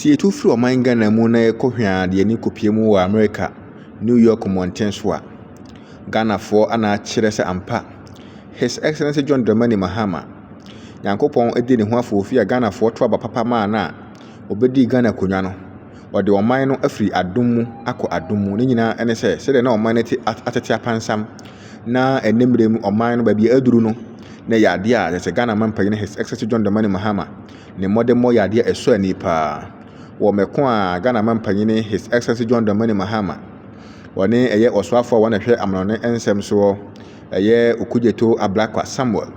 Sɛ yɛtu firi ɔman Ghana mu na yɛkɔ hwɛaa de ani kɔpie mu wɔ Amerika, New York mmɔnten so a, Ghanafoɔ ana akyerɛ sɛ ampa, His Excellency John Dramani Mahama, Nyankopɔn dii ne ho afoofi a Ghanafoɔ to aba papa maa no a ɔbɛdii Ghana akonnwa no, ɔde ɔman no afiri adom mu akɔ adom mu, ne nyinaa ne sɛ sɛdeɛ na ɔman no te atete apansam na ɛnnɛ mmerɛ mu ɔman no baabi a aduru no, na ɛyɛ adeɛ a kyerɛ sɛ Ghana Mma Mpanyin His Excellency John Dramani Mahama ne mmɔdemmɔ yɛ adeɛ a ɛsɔ ani paa. Wɔ mɛko a Ghana Mampanyini His Excellency John Dramani Mahama ɔne ɛyɛ ɔsoafoɔ a wɔn na ɛhwɛ amanɔne nsɛm soɔ ɛyɛ Okudzeto Ablakwa Samuel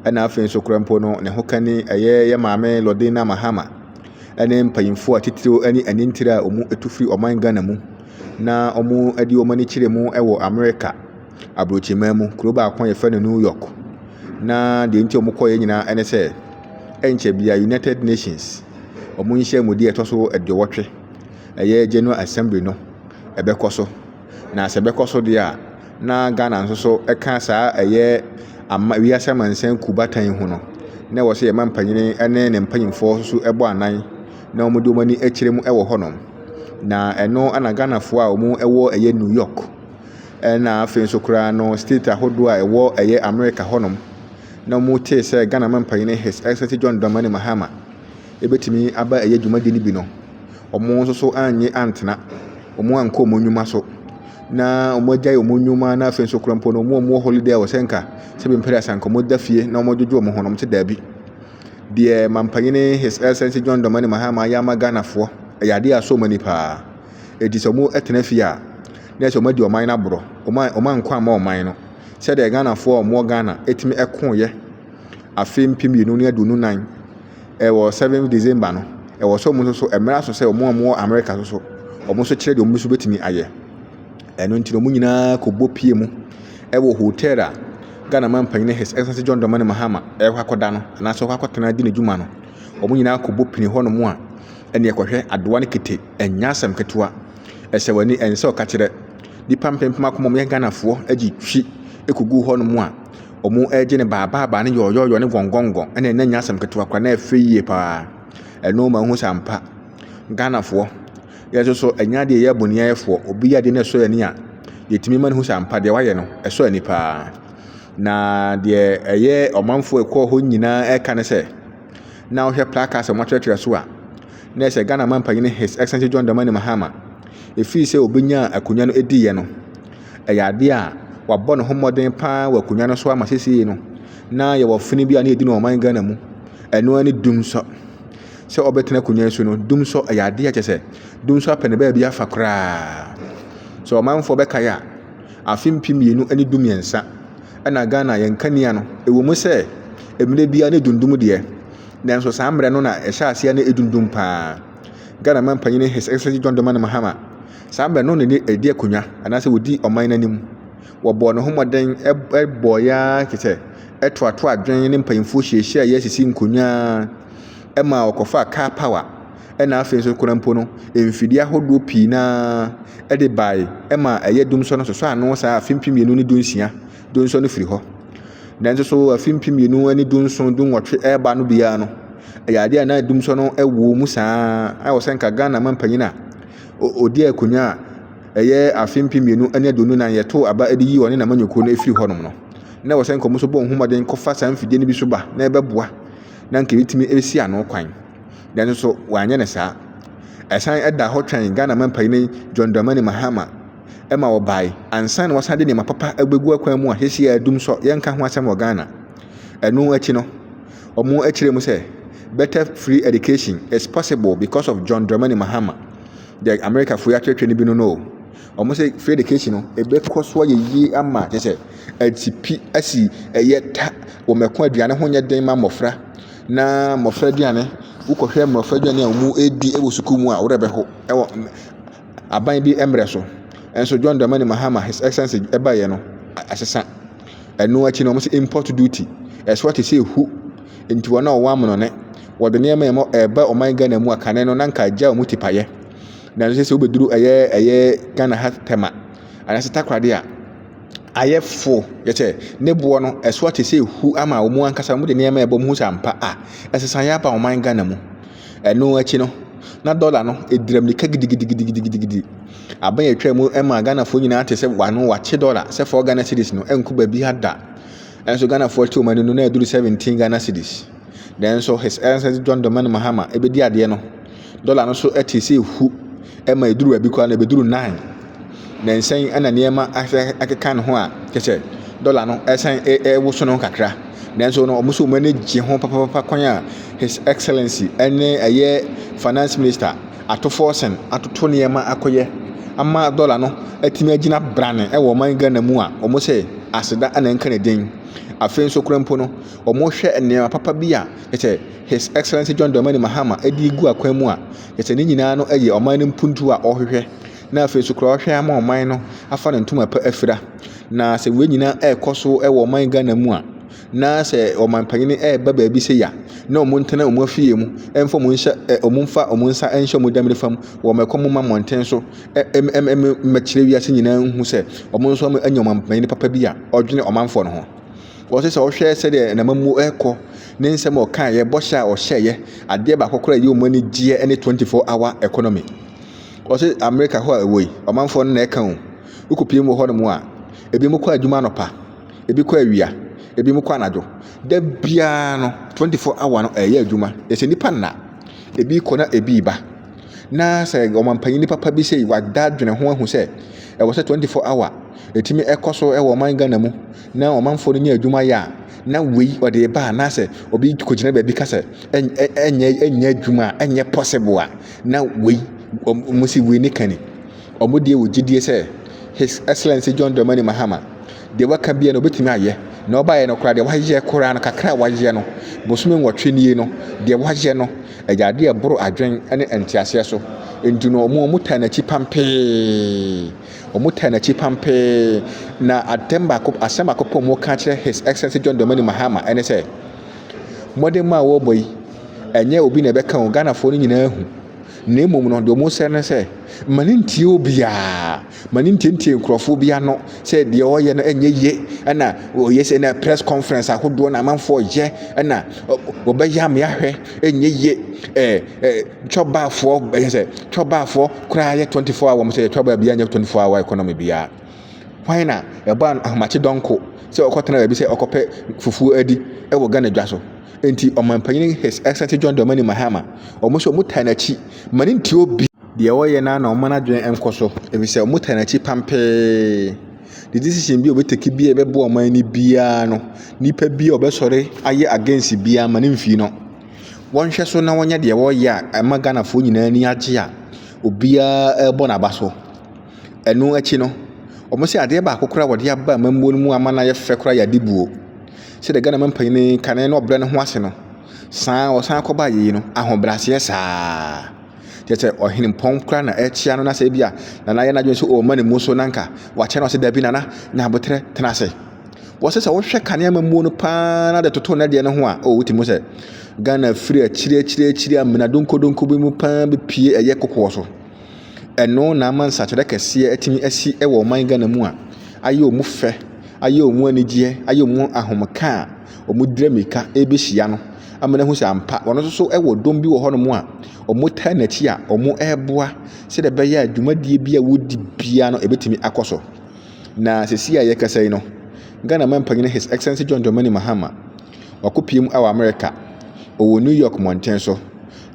ɛna afei nso kora mpo no ne ho kani ɛyɛ yɛ maame Lordina Mahama ɛne mpanyinfoɔ a titiriw ɛne anintire a wɔn ɛtu firi ɔman Ghana mu na wɔn ɛde wɔn ani kyerɛ mu ɛwɔ Amerika abrokyiman mu, kuro baako a yɛfrɛ no New York. Na deɛ nti a wɔkɔeɛ nyinaa ne sɛ, ɛnkyɛ biara United Nations wɔn nhyiamudie a ɛtɔ so aduowɔtwe, ɛyɛ General Assembly no ɛbɛkɔ so. Na sɛ ɛbɛkɔ so deɛ a, na Ghana nso so ka saa ɛyɛ ama wiase amansan kuo bata yi ho no, na ɛwɔ sɛ yɛma mpanin ne ne mpanimfoɔ nso bɔ anan na wɔde wɔn ani kyerɛ mu wɔ hɔnom. Na ɛno na Ghanafoɔ a wɔwɔ ɛyɛ New York. Ɛna afei nso koraa no state ahodoɔ a ɛwɔ ɛyɛ America hɔ nom na wɔn tee sɛ Ghana Mampanyini His Excellency John Dramani Mahama ɛbɛtumi aba ɛyɛ dwumadie no bi no wɔn nso so annye antena wɔn ankɔ wɔn nnwuma so na wɔn agyae wɔn nnwuma na afei nso koraa mpo no wɔn a wɔwɔ holiday a wɔsɛ nka sɛ bi mpɛrɛ asanka wɔn da fie na wɔn adwodwo wɔn ho na wɔn te daabi deɛ Mampanyini His Excellency John Dramani Mahama ayɛ ama Ghanafoɔ ɛyɛ adeɛ a asɔ wɔn ani paa ɛti sɛ wɔn ɛtena fie a na ɛsɛ wɔadi ɔman no aborɔ. Wɔma wɔma nkwa mma ɔman no. Sɛdeɛ Ghanafoɔ a wɔwɔ Ghana tumi koeɛ afe mpem mmienu ne aduonu nan ɛwɔ seven December no, ɛwɔ sɛ wɔn nso so ɛmmerɛ aso sɛ wɔn a wɔwɔ America nso so, wɔn nso kyerɛ deɛ wɔn nso bɛtumi ayɛ. Ɛno nti na wɔn nyinaa kɔbɔ pie mu ɛwɔ hotel a Ghana man panyin His Excellency John Dramani Mahama ɛrekɔ akɔda no anaasɛ ɔkɔ akɔtena di n'adwuma no. Wɔn nyinaa kɔbɔ pini hɔnom a ɛne ɛkɔhwɛ adoa ne kete ɛnyɛ asɛm ketewa. Ɛsɛ w'ani ɛnsɛ sɛ ɔka kyerɛ nnipa mpempem akoma a wɔyɛ Ghanafoɔ de twi kɔgu hɔnom a wɔregye ne baabaabaa ne yɔɔyɔɔyɔ ne gɔngɔngɔn ɛna ɛna nyɛ asɛm ketewa koraa na ɛfɛ yie paa. Ɛno ma wohu sɛ ampa Ghanafoɔ yɛn nso so ɛnyɛ adeɛ yɛyɛ boniayɛfoɔ. Obi yɛ adeɛ na ɛsɔ yɛn ani a yɛtumi ma no hu sɛ ampa deɛ wayɛ no ɛsɔ ani paa. Na deɛ ɛyɛ ɔmanfoɔ ɛkɔɔ hɔ nyinaa ɛka ne sɛ na wohwɛ placards a wɔatwerɛtwerɛ so a na ɛhyɛ Ghana Manpanin His Excellency John Dramani Mahama. Ɛfiri sɛ ɔbɛnyaa akonnwa no diiɛ no, ɛyɛ adeɛ a wabɔ ne ho mmɔden paa wɔ akonnwa no so ama seesei no, na yɛwɔ fene bi a na yɛdi no ɔman Ghana mu. Ɛno ara ne dumsɔ. Sɛ ɔbɛtena akonnwa yi so no, dumsɔ ɛyɛ adeɛ a kyɛ sɛ dumsɔ apɛ ne baabi afa koraa. Sɛ ɔmanfoɔ bɛkae a, afe mpem mmienu ne du mmiɛnsa ɛna Ghana yɛn kanea no, ɛwɔ mu sɛ mmerɛ biara ne dundum deɛ, Nanso saa mmerɛ no na ɛhyɛ aseɛ na ɛdundum pa ara. Ghana manpanin His Excellency John Dramani Mahama, saa mmerɛ no na ne ɛdi akonnwa anaasɛ ɔdi ɔman no anim. Wɔbɔɔ ne ho mmɔden bɔeɛ ara te sɛ ɛtoatoa adwene ne mpanyinfoɔ hyiahyiaeɛ asisi nkonnwa ara ma ɔkɔfaa car power ɛna afei nso koraa mpo no mfidie ahodoɔ pii no ara ɛde bae ɛma ɛyɛ dum sɔ no sosɔ ano saa afe mpem mmienu ne du nsia Dunsɔn no firi hɔ. Nanso so afe mpem mmienu ne dunson dunwɔtwe ɛreba no biara no, ɛyɛ adeɛ a na dumsɔn no wɔ mu saa a wɔ sɛ nka Ghana mampanyin a ɔdi akonnwa a ɛyɛ afe mpem mmienu ne aduonu nan yɛtoo aba de yi ɔne n'amanyɔkuo no firi hɔnom no na wɔ sɛ nka wɔn nso bɔ wɔn ho mmɔden kɔfa saa mfidie no bi so ba na ɛbɛboa na nka ɛbɛtumi ɛbɛsi ano kwan nanso so wɔanyɛ no saa ɛsan ɛda hɔ twɛn Ghana mampanyin John Dramani Mahama ma wɔbae ansa na wɔasan de nneɛma papa abegu akwan mu a seesei adum nso yɛnka ho asɛm wɔ Ghana. Ɛno akyi no, wɔkyerɛɛ mu sɛ, Better free education is possible because of John Dramani Mahama. Deɛ Amerikafo yi atwerɛtwerɛ no bi no no o. Wɔn sɛ free education no, ɛbɛkɔ so ayɛ yie ama kyerɛ sɛ asipi asi ɛyɛ ta wɔ mɛko aduane ho nyɛ den ma mmɔfra na mmɔfra aduane wokɔhwɛ mmɔfra aduane a wɔdi wɔ sukuu mu a worɛ bɛho ɛwɔ aban bi mbrɛ so. Nso John Dramani Mahama, His Excellency, ɛbaeɛ no, asesa. Ɛno akyi no, wɔn sɛ import duty. Ɛsoa te sɛ ehu. Nti wɔn a wɔwɔ amonone, wɔde nneɛma a ɛmɔ ɛreba ɔman Ghana mu a kane no na nka agya wɔn tipayɛ. Nanso sɛ sɛ wobɛduru ɛyɛ ɛyɛ Ghana ha tɛma anaasɛ takoradi a ayɛ fo yɛ sɛ ne boɔ no ɛsoa te sɛ ehu ama wɔn ankasa wɔn de nneɛma ɛbɔ mu sɛ ampa a ɛsesa yɛ aba ɔman Ghana mu. Ɛno akyi no, na dɔla no ɛdira mmirika gidigidigidigidigidi. Aban a ɛtwa mu ma Ghanafoɔ nyinaa te sɛ wano wakye dɔla sɛ four Ghana cedis no ɛnko baabi ha da. Ɛnso Ghanafoɔ te wɔn ani no na ɛduru seventeen Ghana cedis. Nanso His Excellency John Dramani Mahama ɛbɛdi adeɛ no, dɔla no so ɛte sɛ ɛhu ɛma ɛduru baabi koraa no ɛbɛduru nine. Nnansa yi na nneɛma asɛ akeka ne ho a kyerɛ sɛ dɔla no ɛresan ɛrewoso ne ho kakra. Nanso no wɔn nso wɔn ani gye ho papaapa kwan a his excellence ɛne ɛyɛ finance minister ato forcing atoto nneɛma akɔyɛ ama dɔla no atumi agyina brane ɛwɔ ɔman Ghana mu a wɔn sɛ aseda na ɛnka ne din. Afei nso koraa mpo no wɔhwɛ nneɛma papa bi a kyerɛ sɛ his excellence John Dramani Mahama ɛde gu akwan mu a kyerɛ sɛ ne nyinaa no ɛyɛ ɔman no mpuntuo a wɔhwehwɛ. na afei nso koraa ɔhwɛ ama ɔman no afa ne ntoma pa afira. Na sɛ wei nyinaa ɛrekɔ so wɔ ɔman Ghana mu a, na sɛ ɔman panyin ɛreba baabi sɛ ya, na wɔn ntena wɔn afie mu, ɛmfa wɔn nhyɛ ɛ wɔn mfa wɔn nsa nhyɛ wɔn dɛm nifa mu, wɔn ɛkɔ mu ma mmɔnten so, ɛ ɛm ɛm ɛm mmɛkyerɛ wiase nyinaa nhu sɛ wɔn nso wɔn anya ɔman panyin papa bi a ɔdwene ɔmanfoɔ no ho. Wɔsɛ sɛ ɔhwɛ sɛdeɛ n'amammuo ɛrekɔ, ne nsɛm a ɔkaeɛ, bɔhyɛ a ɔhyɛeɛ, adeɛ baako koraa a ɛyɛ wɔn anigyeɛ ne 24 hour economy. Wɔse America hɔ a ɛwɔ yi, ɔmanfoɔ no na ɛka o. Wokɔpie mu wɔ hɔ nom a, ebinom kɔ adwuma anɔpa, ebi kɔ awia, ebinom kɔ anadwo. Da biara no, 24 hour no ɛyɛ adwuma. Ɛsɛ nnipa nna. Ebi kɔ na ebi ba. Na sɛ ɔmanpanyini papa bi sei wada dwene ho ahu sɛ, ɛwɔ sɛ 24 hour ɛtumi ɛkɔ so ɛwɔ ɔman Ghana mu na ɔmanfoɔ no nya adwuma yɛ a, na wei ɔde ɛba anaasɛ obi kɔgyina baabi ka sɛ, ɛnyɛ adwuma a, ɛnyɛ possible a. Na wei, wɔn si wei ne ka ni, wɔn deɛ wɔ gyidie sɛ His Excellency John Dramani Mahama, deɛ waka biara no ɔbɛtumi ayɛ, na ɔbaeɛ no koraa deɛ wayɛ koraa no kakra a wayɛ no, bosome nwɔtwe nie no, deɛ wayɛ no, ɛyɛ adeɛ ɛboro adwen ne nteaseɛ so, nti no wɔn wɔn taa n'akyi pampee, wɔn taa n'akyi pampee, na atɛm baako, asɛm baako pɔ wɔn ka kyerɛ His Excellency John Dramani Mahama ɛne sɛ, mmɔden mu a wɔrebɔ yi, Ɛnyɛ obi na ɛbɛka o, Ghanafoɔ no nyinaa hu. Na mmom no, deɛ wɔsrɛ ne sɛ, ma no ntie obiara. Ma no ntientie nkurɔfoɔ bi ano sɛ deɛ ɔreyɛ no ɛnyɛ yie. Ɛna ɔyɛ sɛ na press conference ahodoɔ na amanfoɔ yɛ. Ɛna wɔbɛyɛ amea hwɛ ɛnyɛ yie. Ɛɛ ɛɛ twɔbaafoɔ ɛyɛ sɛ twɔbaafoɔ koraa yɛ 24 hour wɔn sɛ yɛ twɔbaa biara nyɛ 24 hour economy biara. Hwan na ɛbɔɔ n'ahomakye dɔnko sɛ ɔkɔtena baabi sɛ ɔkɔpɛ fufuo adi wɔ Ghana dwa so? Enti Ɔmanpanin His Excellency John Dramani Mahama, wɔn nso wɔtaa n'akyi ma ne nte obi. Deɛ ɔyɛ no ara na wɔma n'adwene nkɔ so ɛfiri sɛ wɔtaa n'akyi pampee. The decision bi a ɔbɛtake biara a ɛbɛboa ɔman no biara no, nipa bi a ɔbɛsɔre ayɛ against biara ma no mfii no. Wɔnhwɛ so na wɔnyɛ deɛ wɔreyɛ a ɛma Ghanafoɔ nyinaa ani agye a obiara rebɔ n'aba so. Ɛno akyi no, wɔse adeɛ baako koraa a wɔde aba amammuo no mu ama no ayɛ fɛ koraa yɛ adibuo. Sɛdeɛ Ghana mampanin yi kane na ɔbrɛ ne ho ase no, saa a ɔsan kɔba ayie no, ahobrɛaseɛ saa. Kyerɛ sɛ ɔhenempɔn koraa na ɛrekyea no na sɛ ebia Nana ayɛ n'adwene sɛ ɔrema ne mu so na nka wakyɛ no ɔse dabi Nana nya aboterɛ tena ase. Wɔse sɛ wohwɛ kane amammuo no paa na de toto ne deɛ no ho a, o wotumi hu sɛ Ghana firi akyiri akyiri akyiri amena donkɔdonkɔ bi mu paa bɛpue ɛyɛ kokoɔ so. Ɛno na ama nsakyerɛ kɛseɛ atumi asi wɔ ɔman Ghana mu a ayɛ wɔn fɛ, ayɛ wɔn anigyeɛ, ayɛ wɔn ahomeka a wɔdira mmirika rebɛhyia no ama no ahu sɛ ampa wɔn nso so wɔ dɔm bi wɔ hɔnom a wɔtaa n'akyi a wɔreboa sɛdeɛ ɛbɛyɛ a dwumadie bi a wɔdi biara no ɛbɛtumi akɔ so. Na sɛsi a yɛkasa yi no, Ghana manpanyin His Excellency John Dramani Mahama wakɔpiem wɔ Amerika, ɔwɔ New York mmɔnten so.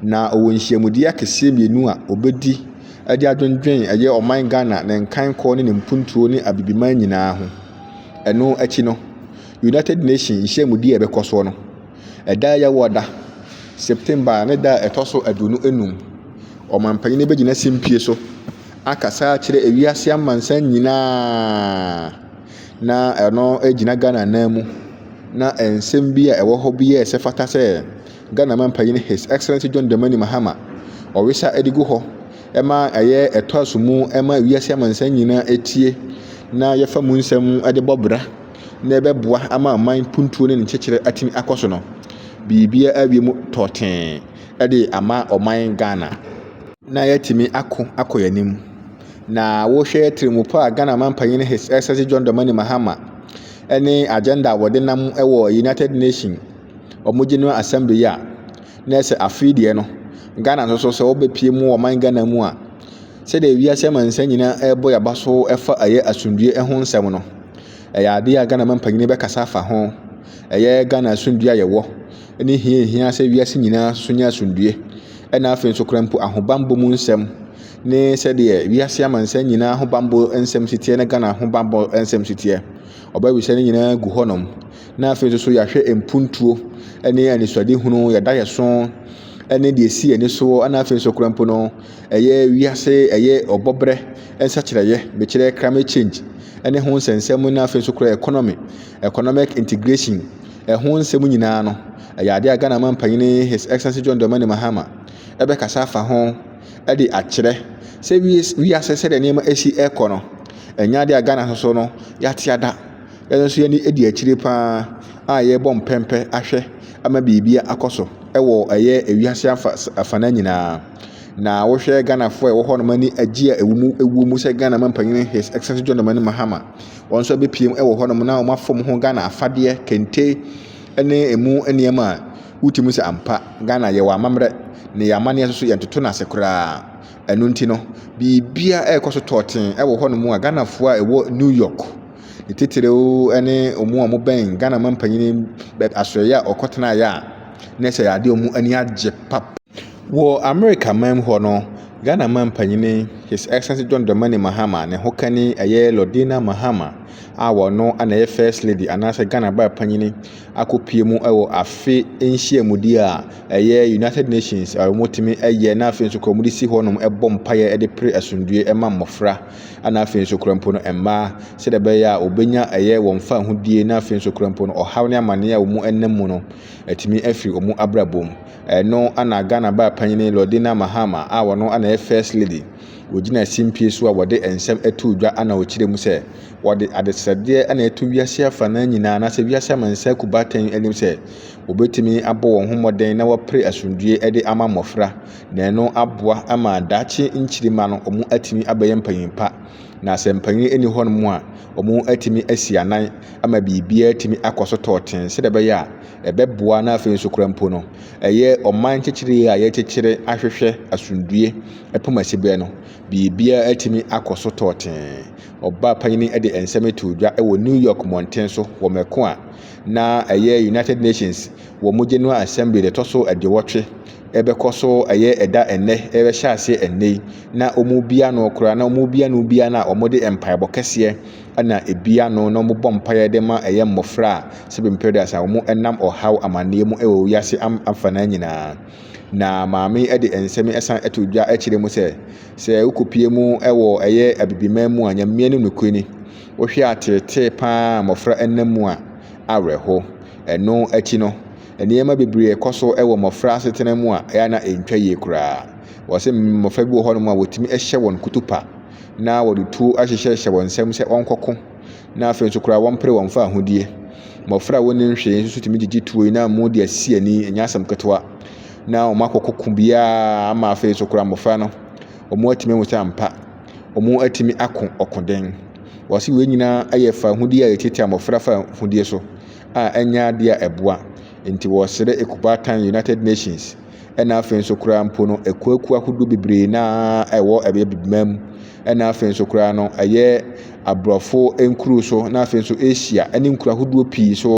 Na ɔwɔ nhyiamudie akɛseɛ mmienu a ɔbɛdi de adwendwen ɛyɛ ɔman Ghana, ne nkankɔ ne ne mpuntuo ne Abibiman nyinaa ho. Ɛno akyi no, United Nations nhyiamudie a ɛbɛkɔ soɔ no, ɛda a ɛyɛ wɔ da, September ne da a ɛtɔ so aduonu enum, ɔmampanin no bɛgyina simpie so akasa akyerɛ ewiase amansan nyinaa. Na ɛno gyina Ghana nan mu. Na nsɛm bi a ɛwɔ hɔ bi yɛɛ sɛ fata sɛ Ghana Mampanyin His Excellency John Dramani Mahama ɔwesa de gu hɔ ma ɛyɛ ɛtoaso mu ma wiase amansan nyinaa etie na yɛfa mu nsɛm de bɔ bra na ɛbɛboa ama aman puntuo ne ne nkyekyerɛ atumi akɔ so no. Biribiara awie mu tɔɔtee de ama ɔman Ghana na yɛatumi ako akɔ yɛn anim. Na wohwɛ tirimupɔ a Ghana Mampanyin His Excellency John Dramani Mahama ne agenda a wɔde nam wɔ United Nations wɔn general assembly yi a na ɛsɛ afei deɛ no ghana nso so sɛ wɔbɛpie mu ɔman ghana mu a sɛdeɛ wiase amansan nyinaa ɛrebɔ yaba so ɛfa ɛyɛ asomdue ɛho nsɛm no ɛyɛ adeɛ a ghana mampanyini bɛkasa afa ho ɛyɛ ghana asomdue a yɛwɔ ne hia hia sɛ wiase nyinaa so nyɛ asomdue ɛna afei nso kora mpo ahobanbɔ mu nsɛm ne sɛdeɛ wiase amansan nyinaa ahobanbɔ nsɛm siteɛ ne ghana ahobanbɔ nsɛm siteɛ ɔbɛwisɛ no nyinaa gu hɔnom na afei nso so yɛahwɛ mpuntuo ne anisoadehunu, yɛn adaeɛso ne deɛ ɛsi yɛn ani soɔ, ɛna afei nso koraa mpo no, ɛyɛ wiase, ɛyɛ ɔbɔbrɛ nsakyerɛeɛ, mekyerɛ climate change ne ho nsɛnsɛm na afei nso koraa economy, economic integration, ɛho nsɛm nyinaa no, ɛyɛ adeɛ a Ghana man panyin His Excellency John Dramani Mahama ɛbɛkasa afa ho de akyerɛ sɛ wiase sɛdeɛ nneɛma ɛsi ɛrekɔ no, ɛnyɛ adeɛ a Ghana nso so no yɛate ada. Yɛn nso yɛn ani di akyire pa ara a yɛrebɔ mpɛmpɛ ahwɛ ama biribi akɔ so wɔ ɛyɛ ewiase afa afana nyinaa. Na wohwɛ Ghanafoɔ a ɛwɔ hɔ nom ani agye a ɛwɔ mu ɛwɔ mu sɛ Ghana manpanyin His Excellency John Dramani Mahama wɔn nso abɛpiem wɔ hɔ nom na wɔn afam ho Ghana afadeɛ, kente ne emu nneɛma a wotumi sɛ ampa Ghana yɛwɔ amammerɛ na yɛ amanneɛ nso so yɛntoto no ase koraa. Ɛno nti no, biribiara ɛrekɔ so tɔɔten wɔ hɔ nom a Ghanafoɔ a ɛwɔ New York Ne titiriw ne wɔn a wɔbɛn Ghana mampanyin no bɛ asoɛeɛ a ɔkɔtenaeɛ a na ɛsɛ adeɛ a wɔn ani agye pap. Wɔ Amerika man mu hɔ no, Ghana mampanyin His Excellency John Dramani Mahama ne hokani ɛyɛ Lordina Mahama a wɔno na ɛyɛ First Lady anaasɛ Ghana baa panyin akɔpue mu wɔ afe nhyiamudi a ɛyɛ United Nations a wɔtumi yɛ na afei nso kora wɔde si hɔnom bɔ mpaeɛ de pere asomdwoeɛ ma mmɔfra. Ɛna afei nso kora mpo no mmaa sɛdeɛ ɛbɛyɛ a wɔbɛnya ɛyɛ wɔn fahodie na afei nso kora mpo no ɔhaw ne amaneɛ a wɔn ɛnam mu no atumi afiri wɔn abrabɔ mu ɛno ana Ghana baa panyini Lordina Mahama a wɔno ana yɛ first lady wɔgyina simpie so a wɔde nsɛm ɛto dwa ana wɔkyerɛ mu sɛ wɔde adesrɛdeɛ ana ɛto wiase afa no nyinaa anaasɛ wiase amansa kubatɛn anim sɛ wɔbɛtumi abɔ wɔn ho mmɔden na wɔpere asomdwie ɛde ama mmɔfra Na ɛno aboa ama daakye nkyiri mma no wɔatumi abɛyɛ mpanyin pa. Na sɛ mpanyin nni hɔnom a, wɔatumi asi anan ama biribiara atumi akɔ so tɔɔten sɛdeɛ ɛbɛyɛ a ɛbɛboa na afei nso koraa mpo no, ɛyɛ ɔman nkyekyere a yɛkyekyere ahwehwɛ asomdue ɛpem asiberɛ no, biribiara atumi akɔ so tɔɔten. Ɔbaa panyin de nsɛm too dwa wɔ New York mmɔnten so wɔ mako a na ɛyɛ United Nations wɔ mo General Assembly da ɛtɔ so aduowɔtwe ɛbɛkɔ so ɛyɛ ɛda ɛnnɛ ɛbɛhyɛ aseɛ ɛnnɛ yi na wɔn bia no koraa na wɔn bia no bia no a wɔn de mpaebɔ kɛseɛ ɛna ebia no na wɔn bɔ mpaeɛ de ma ɛyɛ mmɔfra a sɛbi mpɛrɛdas a wɔn ɛnam ɔhaw amaneɛ mu ɛwɔ wiase am afanaa nyinaa na maame ɛde nsɛm ɛsan ɛto dwa ɛkyerɛ mu sɛ sɛ wokɔpie mu ɛwɔ ɛyɛ abibiman mu a nyameɛ no nokorɛ ni Wohwɛ ateetee pa ara a mmofra nam mu a, awerɛhow. Ɛno akyi no, nneɛma bebree kɔ so wɔ mmofra asetena mu a ɛyɛ a na entwa yie koraa. Wɔse mmofra bi wɔ hɔnom a wotumi hyɛ wɔn kutupa, na wɔde tuo ahyehyɛhyɛ wɔn nsam sɛ wɔnkɔko, na afei nso koraa wɔmpere wɔn mfa ahodie. Mmofra a wonnim hwee nso tumi gyigye tuo yi na amu de asi ani, ɛnyɛ asɛm ketewa, na wɔakɔko ko biara ama afei nso koraa mmofra no, wɔatumi ahu sɛ ampa, wɔatumi ako ɔkoden. Wɔse wei nyinaa yɛ fawohodie a yɛtiatia mmɔfra fawohodie so a ɛnyɛ adeɛ a ɛboa. Nti wɔsrɛ ekubaatan United Nations ɛna afei nso koraa mpo no akuakuo ahodoɔ bebree no ara a ɛwɔ ɛbɛyɛ Bibima mu ɛna afei nso koraa no ɛyɛ aborɔfo nkuro so na afei nso Asia ɛne nkuro ahodoɔ pii so.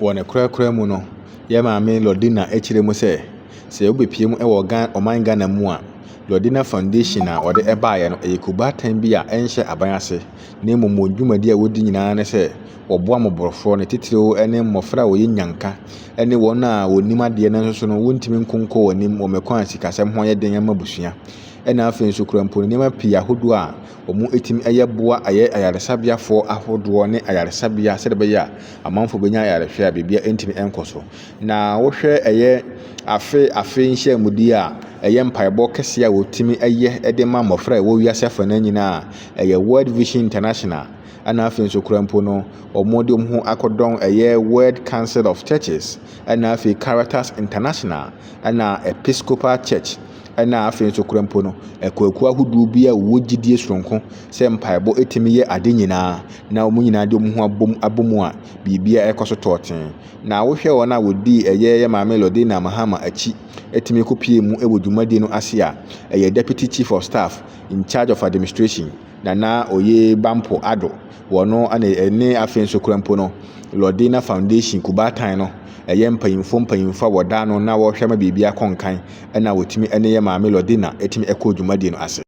Wɔ ne korakora mu no, yɛn maame Lordina kyerɛ mu sɛ, sɛ wobɛpie mu wɔ Ghana, ɔman Ghana mu a, Lordina Foundation a wɔde baeɛ no, ɛyɛ kubaatan bi a ɛnhyɛ aban ase, na mmom wɔn dwumadi a wɔdi nyinaa ne sɛ, Wɔboa mmɔborɔfoɔ, ne titiriw ne mmɔfra a wɔyɛ nnyanka, ne wɔn a wɔnnim adeɛ nanso so no wɔntumi nkɔ nkɔ wɔn anim wɔ mɛkwan a sikasɛm ho yɛ den ma abusua, ɛna afei nso kura mpo no nneɛma pii ahodoɔ a wɔtumi yɛ boa ayɛ ayaresabeafoɔ ahodoɔ ne ayaresabea sɛdeɛ ɛbɛyɛ a amanfoɔ bɛnya ayarehwɛ a biribiara ntumi nkɔ so. Na wohwɛ ɛyɛ afe afe nhyiamudie a ɛyɛ mpaebɔ kɛseɛ a wɔtumi yɛ de ma mmɔfra a ɛwɔ wiase afa no nyinaa a ɛyɛ World Vision International ɛna afei nso kora mpo no wɔn de wɔn ho akɔdɔn ɛyɛ World Council of Churches ɛna afei Caritas International ɛna Episcopal Church ɛna afei nso kora mpo no akuakuo ahodoɔ bi a wɔwɔ gyidie soronko sɛ mpaebɔ ɛtumi yɛ ade nyinaa na wɔn nyinaa de wɔn ho abom abom a biribiara ɛkɔ so tɔɔten na wohwɛ wɔn a wɔdii ɛyɛ yɛ maame Lordina Mahama akyi ɛtumi kɔpie mu ɛwɔ dwumadie no ase a ɛyɛ Deputy Chief of Staff in charge of administration Na na oye Bampo Addo wɔ no ne ɛne afei nso kura mpo no Lordina Foundation Kubaatan no ɛyɛ mpanyinfoɔ mpanyinfoɔ a wɔda ano na wɔhwɛ ma biribi akɔ nkan ɛna wɔtumi ɛne yɛ maame Lordina ɛtumi ɛkɔ dwumadie no ase.